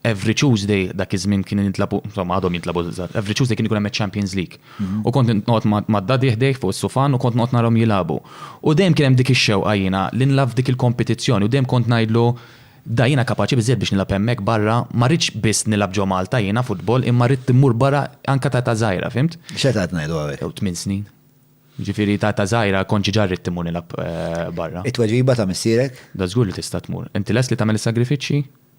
Every Tuesday, dak iż-żmien kien jintlabu, insomma għadhom jintlabu, every Tuesday kien ikun hemm Champions League. Mhm. U kont noqgħod mad-dadi ħdejh fuq is-sufan u kont noqgħod narhom jilagħbu. U dejjem kien hemm dik ix-xewqa jiena li nlagħab f'dik il-kompetizzjoni u dejjem kont ngħidlu da jiena kapaċi biżżejjed biex nilgħab hemmhekk barra, ma rridx biss nilgħab ġo Malta jiena futbol imma rrid immur barra anke ta' ta' żgħira, fimt? X'qed qed ngħidu hawnhekk? Jew tmien snin. Ġifieri ta' ta' żgħira kont ġiġa rrid imur nilgħab eh, barra. It-tweġiba ta' missierek? Da żgur li tista' tmur. Inti lest li tagħmel is-sagrifiċċji?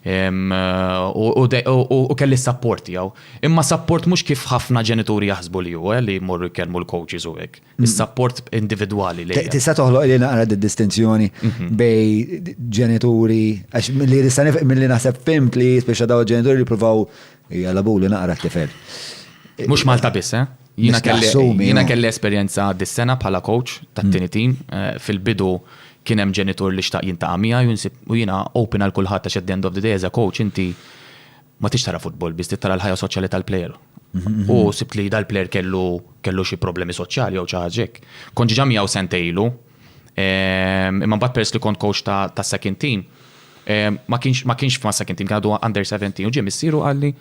U kelli s-sapport tiegħu. Imma sapport mhux kif ħafna ġenituri jaħsbu li hu, li jmorru jkellmu l-coaches u hekk. Is-sapport individwali li. Tista' toħloq li naqra d-distinzjoni bejn ġenituri, għax milli naħseb fimt li speċa daw ġenituri li provaw Hija labuli naqra t-tifel. Mhux Malta biss, eh? Jiena kelli esperjenza dis-sena bħala coach tat-tieni team. Fil-bidu kien hemm ġenitur li xtaq jintaqa' miegħi u jiena open għal kulħadd għax at the end of the day as a coach inti ma tix tara futbol biss trid tara l-ħajja soċjali tal-plejer. U sibt li dal-plejer kellu xi problemi soċjali jew xi ħaġa hekk. Kont ġiġa miegħu sentejn ilu. Imma mbagħad peress li kont coach ta' second team, ma kienx f'ma second team, għadu under 17, u ġie missieru għalli,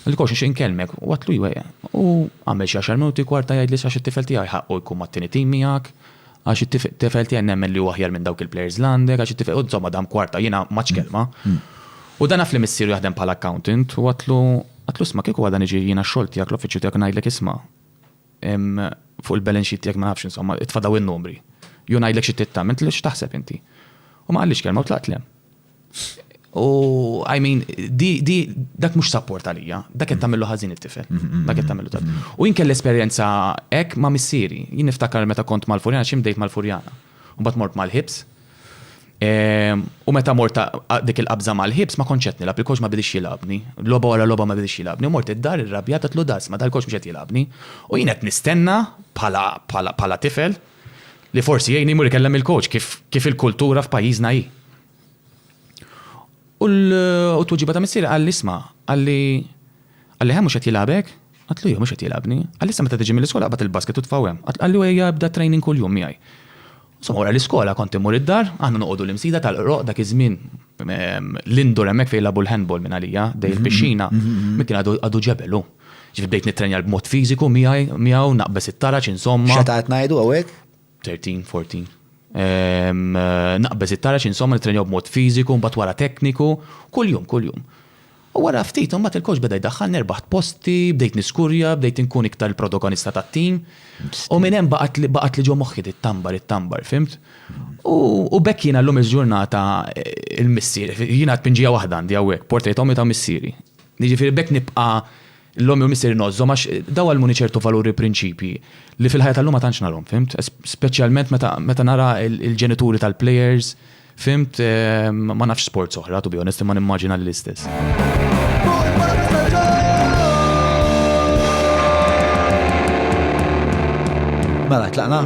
għalli coach nxin kelmek, u għatlu jwe, u għamel xi għaxar minuti kwarta jgħid li sax it-tifel tiegħi ħaqqu jkun ma' t-tieni team miegħek, għax it-tifel tiegħi nemmen li huwa aħjar minn dawk il-players li għandek, għax it-tifel, u insomma dam kwarta jiena ma kelma. U dan naf li missieru jaħdem bħala accountant, u għatlu, għatlu isma' kieku għada niġi jiena x-xogħol tiegħek, l-uffiċċju tiegħek ngħidlek isma', Fuq il-balance sheet tiegħek ma nafx insomma, itfa' dawn in-numri. Jew ngħidlek xi trid tagħmel, inti x'taħseb inti? U ma qallix kelma u tlaqt l-hemm. U I mean, dak mhux sapport għalija, dak qed tagħmillu ħażin it-tifel. Dak qed tagħmillu tat. U jien kelli esperjenza hekk ma' missieri. Jien niftakar meta kont Malfurjana xi mdejt Malfurjana. U mbagħad mort mal-ħibs, U meta mort dik il-qabża mal-ħibs ma kontx qed nilgħab, il-coach ma bidix jilgħabni. Logħba wara logħba ma bidix jilgħabni. Mort id-dar irrabjat għatlu das, ma dal-coach mhux qed jilgħabni. U jien qed nistenna bħala tifel li forsi jgħinni jmur ikellem il-coach kif il-kultura f'pajjiżna hi. U t-tweġiba ta' missier qal isma' qalli qalli ħa mhux qed jilgħabek? Għatlu jew mhux qed jilgħabni. Għalissa meta tiġi mill-iskola qabad il-basket u tfawhem. Qallu ejja bda training kuljum miegħi. Insomma wara l-iskola kont immur id-dar, aħna noqogħdu l-Imsida tal-Qroq dak iż-żmien l-indoor hemmhekk fejn jilagħbu l-handball minn għalija, ħdejn il-pixxina, minn kien għadu ġebel hu. Ġifieri bdejt nittrenja b'mod fiżiku miegħi miegħu, naqbeż it-taraġ insomma. X'età qed ngħidu hawnhekk? Thirteen, fourteen. Naqbeż it-taraġ insomma nittrenjaw b'mod fiżiku, mbagħad wara tekniku, kuljum, kuljum. U wara ftit, imbagħad il-coach beda jdaħħalni, rbaħt posti, bdejt niskurja, bdejt inkun iktar il-protogonista tat-tim. U minn hemm baqgħatli ġo moħħi di Tambar, it-Tambar, fimt? U b'hekk jiena llum il-ġurnata il-missier, jiena tpinġija waħda għandi hawnhekk, portrait ommi ta' missieri. Jiġifieri b'hekk nibqa' L-ommi u missieri ngħożżhom għax daw għallmuni ċertu valuri u prinċipji li fil-ħajja tal-lum ma tantx narahom, fhimt? Speċjalment meta meta nara l-ġenituri tal-plejers, fhimt, ma nafx sports oħra, to be honest, imma nimmaġina li l-istess. Mela, tlaqna?